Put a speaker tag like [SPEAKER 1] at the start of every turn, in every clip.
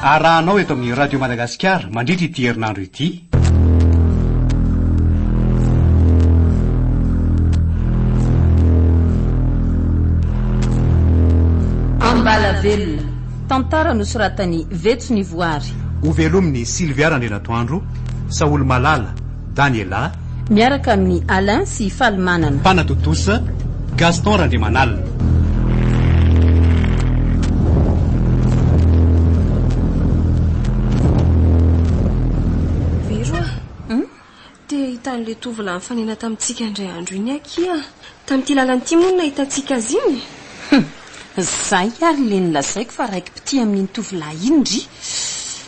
[SPEAKER 1] arahanao eto amin'ny Radio Madagasikara mandritra ity herinandro ity. Ambalavelona,
[SPEAKER 2] tantara nosoratan'i Vetso Nivoary. Ho velomin'i
[SPEAKER 1] Sylvia Randrianatoandro, Saholy Malala, Daniela. Miaraka amin'i
[SPEAKER 2] Alain sy Falimanana. Mpanatontosa,
[SPEAKER 1] Gaston Randriamanalina.
[SPEAKER 3] Vero a! Te hahita an'ilay tovolahy nifanena tamintsika indray andro iny akia. Tamin'ity lalana ity moa no nahitantsika azy iny? Hum!
[SPEAKER 2] Izay ary ilay nolazaiko fa raiki-pitia amin'iny tovolahy iny ry.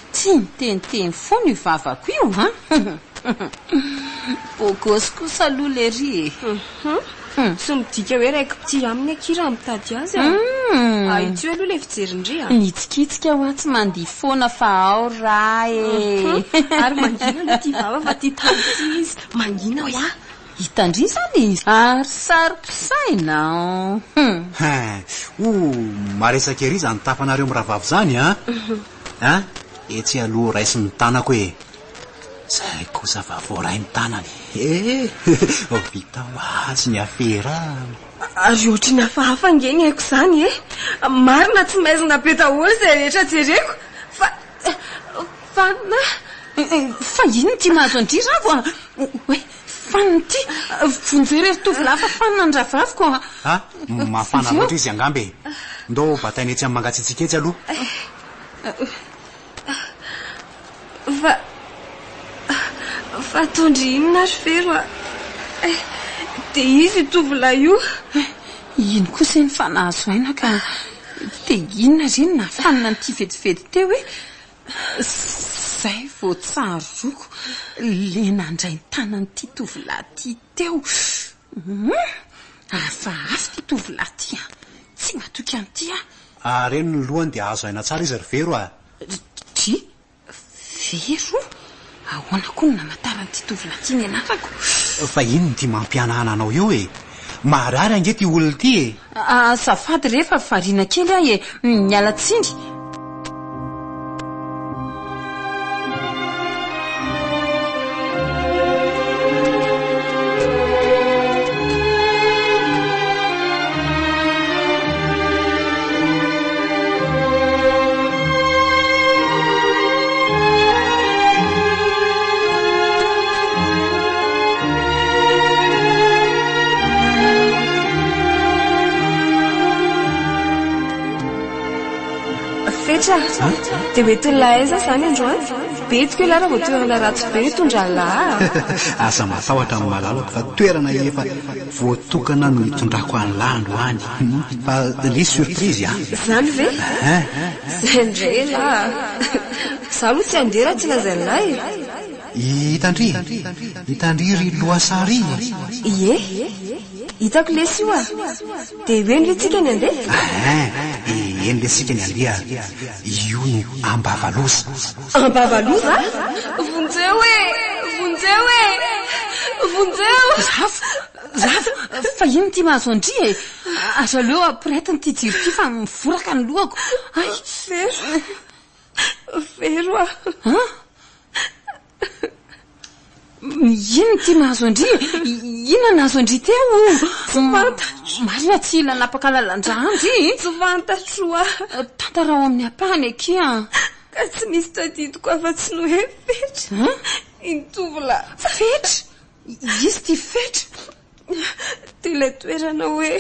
[SPEAKER 2] Tia miteniteny foana io vavako io an! Bogosy kosa aloha lery e! Hum!
[SPEAKER 3] Tsy midika hoe raiko mpitia aminy akia raha mitady azy a! Ahitsio aloha ilay fijerin'ndry a! Mitsikitsika hoa
[SPEAKER 2] tsy mandihy foana fa ao ra e! Ary mangina
[SPEAKER 3] aloha ity vava fa tia tandrify izy! Mangina hoa! Hitandria izany
[SPEAKER 2] e! Ary sariko saina an!
[SPEAKER 1] Hum! Hum! Maresaka ery izany tafanareo mirahavavy izany an! A! Etsy aloha raiso ny tanako e! Zay kosa fa voaray ny tanany e! Vao vita ho azy ny afera an! Ary
[SPEAKER 3] ohatry ny hafahafa ange ny aiko izany e! Marina tsy maizina be daholo izay rehetra jereko fa fa na.
[SPEAKER 2] Fa inona ity mahazo an-dry Ravo a? Hoe Fanina ity! Vonjeo re ry tovolahy fa fanina ny rahavaviko a! A! Mafana
[SPEAKER 1] loatra izy angamba e! Ndao bataina etsy amin'ny mangatsiatsiaka etsy aloha.
[SPEAKER 3] Fa fa ataon-dry inona ry Fero a! Eh! Dia izy io tovolahy io! Eh! Ino
[SPEAKER 2] kosa iny fa nahazo aina ka te inona ry inona fanina an'ity vetivety teo e! Zay vao tsaroako le nandray ny tanan'ity tovolahy ty teo. Humm! Hafahafa ty tovolahy ty an! Tsy matoky an'ity aho. Areno ny
[SPEAKER 1] lohany dia azo aina tsara izy ry Vero a! Ry
[SPEAKER 2] Vero? Ahoana koa no namataran'ity tovolahy ity ny anarako? Fa inona ity
[SPEAKER 1] mampihanahana anao io e? Maharary ange ity olona ity e! Azafady re
[SPEAKER 2] fa variana kely aho e! Miala tsiny!
[SPEAKER 3] Fetra, dia hoe tolona aiza izany androany? Betiko ialahy raha vao toerana ratsy be no tondran'ny lahy. Aza matahotra
[SPEAKER 1] amin'ny malalako fa toerana efa Voatokana no hitondrako an'lah androany. Fa le surprise a! Zany ve?
[SPEAKER 3] Zay ndray elah a! Za aloha tsy handeha raha tsy lazain'lah e! I Tandry?
[SPEAKER 1] I Tandry ry Loasary e! Ie!
[SPEAKER 3] Hitako lesy io a! Dia eny ve tsika ny handeha?
[SPEAKER 1] Eny lesy tsika ny handeha! Io no ambavaloza! Am-bava aloha
[SPEAKER 3] va? Vonjeo e! Vonjeo e! Vonjeo! Rafo!
[SPEAKER 2] Rafo! Fa inona ity mahazo an-dry e? Aza aleo ampirehetiny ity jiro ity fa mivoraka ny lohako. Ay! Very!
[SPEAKER 3] Very hoa! An?
[SPEAKER 2] Inona ity nahazo an-dry e? Inona nahazo an-dry teo o? Tsy fantatro. Marina tsy hila hanapaka lalan-drà an-dry e? Tsy fantatro
[SPEAKER 3] a! Tantara ao
[SPEAKER 2] amin'ny ampahany aky a! Ka tsy nisy
[SPEAKER 3] tadidiko afa-tsy ny hoe fetra iny tovolahy. Fetra?
[SPEAKER 2] Iza ity fetra?
[SPEAKER 3] Dia ilay toerana hoe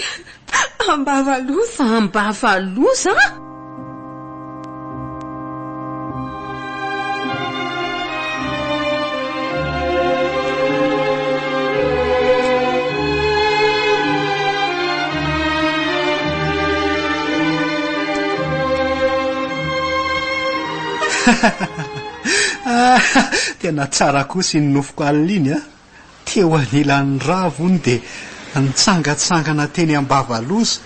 [SPEAKER 3] Ambavaloza. Ambavaloza?
[SPEAKER 1] Tena tsara kosa iny nofoko alina iny a! Teo anilan'ny rava hono dia nitsangantsangana teny Ambavaloza,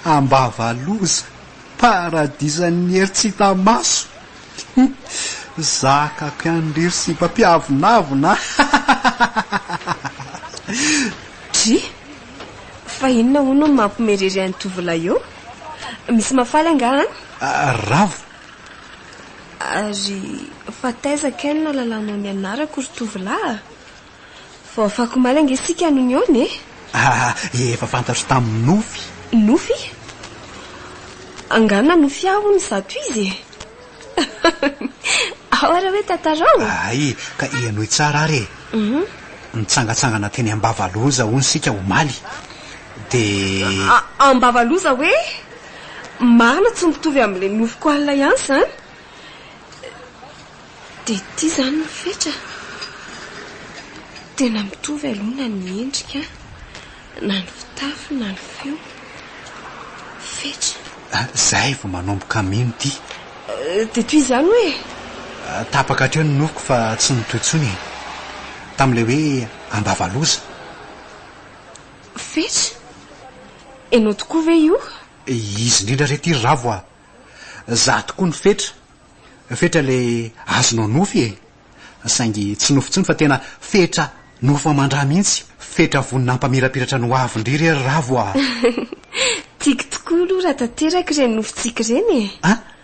[SPEAKER 1] Ambavaloza, paradisan'ny hery tsy hita maso! Zaka mpianiriry sy mpampiavonavona an!
[SPEAKER 3] Dry! Fa inona hono no mampimerery an'i Tovolahy eo? Misy mahafaly angaha
[SPEAKER 1] any?
[SPEAKER 3] Ravo! Ary fa taiza kay no nalalanao ny anarako ry tovolahy a? Vao afaky omaly ange isika no nihaona e? Ah, efa
[SPEAKER 1] fantatro tamin'ny nofy. Nofy?
[SPEAKER 3] Angaha nanofy ahy hono izato izy e? Ao ary hoe tantarao. Hay ka
[SPEAKER 1] henoy tsara ary e. Nitsangatsangana teny Ambavaloza hono isika omaly dia.
[SPEAKER 3] Ambavaloza hoe? Marina tsy mitovy amin'ilay nofiko alina ihany izany. Dia ity izany ny fetra. Tena mitovy aloha na ny endrika, na ny fitafy, na ny feo. Fetra. Ah, izay vao manomboka
[SPEAKER 1] mino ity. Euh, dia toy
[SPEAKER 3] izany hoe? Ah, tapaka
[SPEAKER 1] hatreo ny nofiko fa tsy nitohy intsony e. Tamin'ilay hoe ambavaloza.
[SPEAKER 3] Fetch? Enao tokoa ve io? Izy indrindra
[SPEAKER 1] re ty ry Ravo a! Za tokoa ny fetra. Fetra le azonao nofy e! Saingy tsy nofy intsony fa tena fetra nofo aman-dra mihitsy, fetra vonona hampamirapiratra ny hoavin-dry re ry Ravo a! Tiako
[SPEAKER 3] tokoa aloha raha tanteraka ireny nofintsika ireny e! An?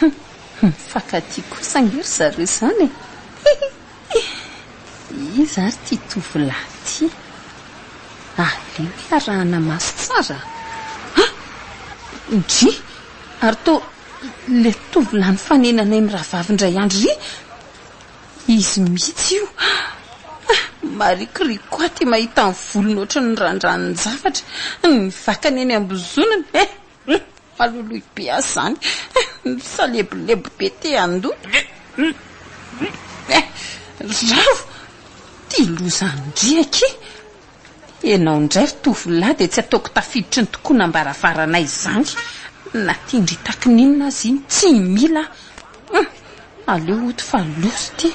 [SPEAKER 2] Hum mifankatia kosa ange ry zareo izany e! Hihi! Iza ary ity tovolahy ity? Aleo iarahana maso tsara a! Hum! Ndry! Ary to ilay tovolahy nifanenanay mirahavavy indray andro ry! Izy mihitsy io! Ah! Marikoriko aty mahita ny volony ohatran'ny randranonjavatra, ny vakany eny am-bozonany e! Maloloy be aza zany misalebolebo be te handoto Ravo ty lozan-driaka e! Ianao indray ry tovolahy dia tsy ataoko tafiditry ny tokonam-baravaranay izany na tindritako n'inona aza iny tsy mila aho. Hum! Aleo ho ito fa loza ity.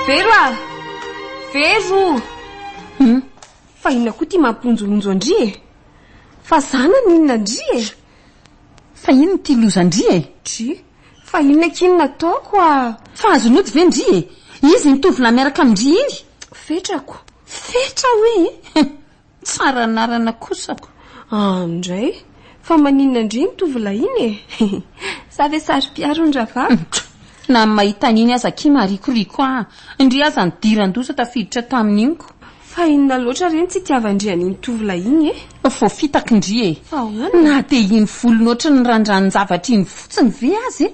[SPEAKER 3] Vero a! Vero! Hmm? Fa inona koa ty mampironjoronjo an-dry e? Fa zana ny inona an-dry e? Fa
[SPEAKER 2] inona ity lozan-dry e? Dry,
[SPEAKER 3] Fa inona akia no nataoko a? Fa azon'ny ody
[SPEAKER 2] ve ndry e? Izy iny tovolahy miaraka amin-dry iny? Fetrako.
[SPEAKER 3] Fetra
[SPEAKER 2] hoe e? Tsara anarana kosa ko. An indray,
[SPEAKER 3] fa maninona ndry iny tovolahy iny e? Za ve saro-piaro ny rahavaviko? Na ny
[SPEAKER 2] mahita an'iny aza akia marikoriko ahy. Ndry aza nidiran-doza tafiditra tamin'iny ko. Fa inona
[SPEAKER 3] loatra re ny tsy itiavan-dry an'iny tovolahy iny e? Vao fitaky
[SPEAKER 2] ndry e! Fa ahoana? Na dia iny volony ohatry ny randran-javatra iny fotsiny ve aza e!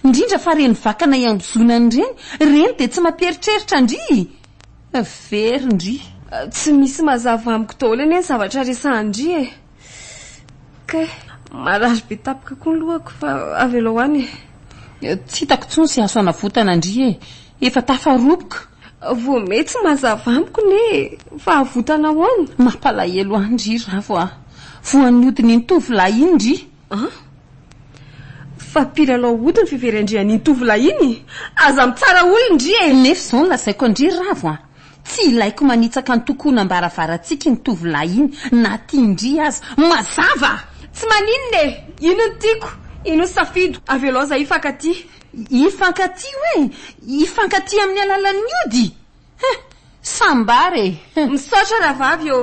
[SPEAKER 2] Indrindra fa ireny vakana iambozonany ireny, ireny dia tsy mampieritreritra ndry e! Very ndry. Tsy misy
[SPEAKER 3] mazava amiko daholo anie ny zavatra resahan-dry e! Kay, marary be tapaka koa ny lohako fa avelao any e. Tsy hitako
[SPEAKER 2] intsony sy aso anavotana ndry e. Efa tafaroboka. Vao may
[SPEAKER 3] tsy mazava amiko ne e. Fa avotana ahoana? Mampalahelo ahy ndry
[SPEAKER 2] Ravo a. Voan'ny hodin'iny tovolahy iny ndry. An?
[SPEAKER 3] Fa mpilalao hody ny fivery andrian'iny tovolahy iny? Aza mitsara olona ndry e. Nefa izao no lazaiko an-dry
[SPEAKER 2] Ravo a. Tsy ilaiko manitsaka antokonam-baravarantsika iny tovolahy iny na tia indry aza. Mazava! Tsy maninona
[SPEAKER 3] e! Ino no tiako? Ino no safido? Avelao izahay hifankatia. Hifankatia
[SPEAKER 2] hoe? Hifankatia amin'ny alalan'ny ody? Heh! Sambara e! Heh! Misaotra rahavavy
[SPEAKER 3] ô!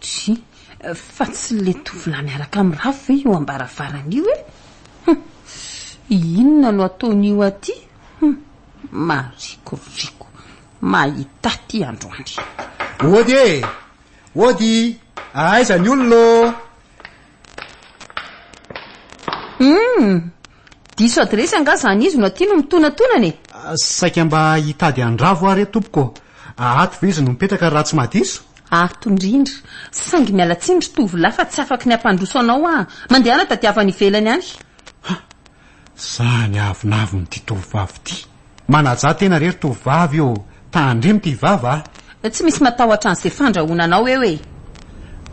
[SPEAKER 1] Tsia,
[SPEAKER 2] fa tsy le tovolahy miaraka am Rafy ve io ambaravarana io e? Hum, inona no ataon'io aty? Hum, marikoriko, mahita aty androany. Ody e!
[SPEAKER 1] Ody! Aiza ny olona ô? Humm!
[SPEAKER 2] Diso adiresy angaha izany izy no aty no mitonatonana e! Saika mba
[SPEAKER 1] hitady handrava aho re tompoko ô! Ato ve izy no mipetraka raha tsy mahadiso? Ato indrindra!
[SPEAKER 2] Saingy miala tsiny ry tovolahy fa tsy afaky ny hampandroso anao aho. Mandehana tadiavo any ivelany any. Za ny
[SPEAKER 1] avonavon ity tovovavy ity. Manajà tena re ry tovovavy ô! Tandremo ty vava a! Tsy misy matahotra
[SPEAKER 2] an'izay fandrahonanao eo e!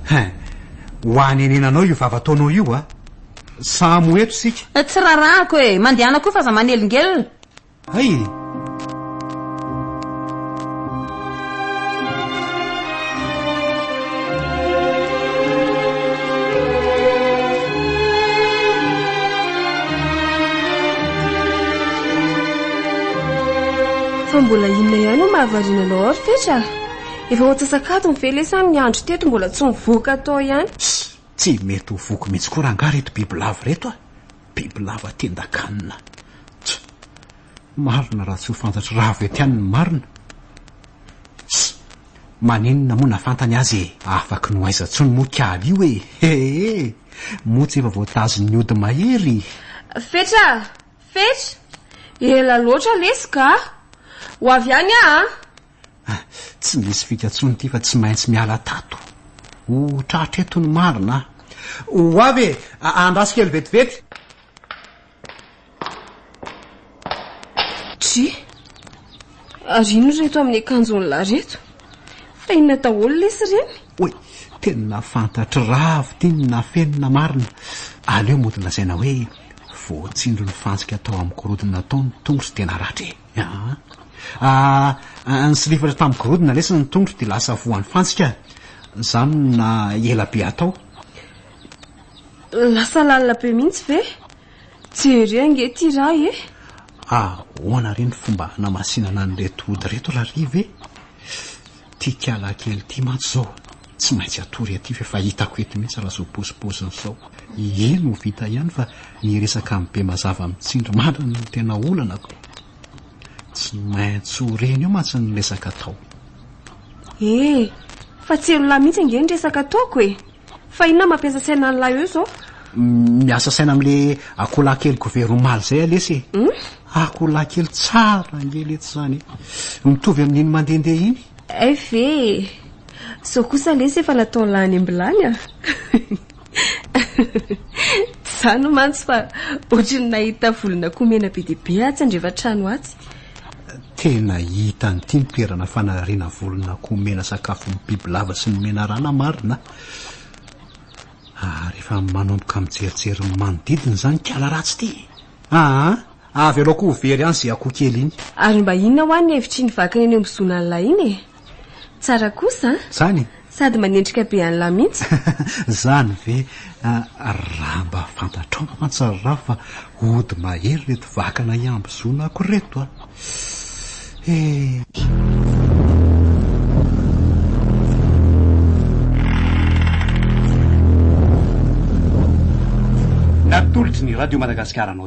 [SPEAKER 2] Hein!
[SPEAKER 1] Ho anenenanao io vava ataonao io a! Samy ho eto isika! Tsy rarahako e!
[SPEAKER 2] Mandehana koa f'aza manelingelina! Hay e!
[SPEAKER 3] Fa mbola inona ihany no mahavariana anao ao ry Fetra a? Efa ho antsasakadiny ve lesy any ny andro teto mbola tsy nivoaka tao ihany? Tsy mety
[SPEAKER 1] ho voky mihitsy koa rangahy ireto bibilava ireto a! Bibilava tendakanina. Tch! Marina raha tsy ho fantatry ra avy ety any ny marina. Tss! Maninona moa na fantany aza e! Afaky ny ho aiza tsony moa kialy io e! Hee! Moa tsy efa voatazon'ny ody mahery! Fetra a!
[SPEAKER 3] Fetra! Ela loatra lesy ka! Ho avy any aho a!
[SPEAKER 1] Ah, tsy misy fika intsony ity fa tsy maintsy miala tato. Ho tratra eto ny marina ah. Ho avy e, andraso kely vetivety.
[SPEAKER 3] Try, ary inona reto amin'ny akanjon'ny lahy reto? Fa inona daholo lesy ireny? Oy, tena
[SPEAKER 1] fantatry ravo ity ny nafenina marina. Aleo mody lazaina hoe voatsindron'ny fantsika tao amin'ny gorodona tao ny tongotro dia naratra e. Aa ny sliver tam gorodona lesy ny tondro dia lasa voany fantsika zany na ela be atao.
[SPEAKER 3] Lasa lalina be mihitsy ve? Tsy ery ange ity ray e. Ahoana
[SPEAKER 1] re ny fomba hanamasinana an'ireto ody ireto rary ve? Ty kialahy kely ty mantsy zao tsy maintsy atory aty fa efa hitako eto mihitsy raha zao pôzipôziny zao iiee no vita ihany fa ny resaka am be mazava am tsindry mandry no tena olana ko tsy maintsy ho reny eo mantsy ny resaka atao. Ee,
[SPEAKER 3] fa tsy elo lahy mihitsy ange ny resaka ataoko e. Fa inona mampiasa saina an'la eo zao? Miasa saina
[SPEAKER 1] amle akoholahy kely gover omaly zay a lesy e. Hum? Akoholahy kely tsara ange letsy zany e. Mitovy amin'iny mandehandeha iny. Hay ve e.
[SPEAKER 3] Zao kosa lesy efa natao lany ambilany a. Zany mantsy fa ohatry ny nahita volon'akoho mena be dia be atsy andrefan-trano atsy. Tena
[SPEAKER 1] hita an'ity ny toerana fanariana volon'akoho omena sakafo ny bibilava sy ny menarana marina ary efa manomboka mijerijery ny manodidina izany kala ratsy ity. Aa, avy aloha koa ho very any izay akoho kely iny. Ary mba inona hoa
[SPEAKER 3] ny hevitr'iny vakana eny amin'ny zon'Allah iny e? Tsara kosa an! Zany e! Sady
[SPEAKER 1] manendrika be
[SPEAKER 3] an'lah mihitsy. Zany ve?
[SPEAKER 1] Raha mba fantatrao mantsy ry Rafy fa hody mahery reto vakana iambozonako reto a! He! Natolotry ny Radio Madagasikara anao.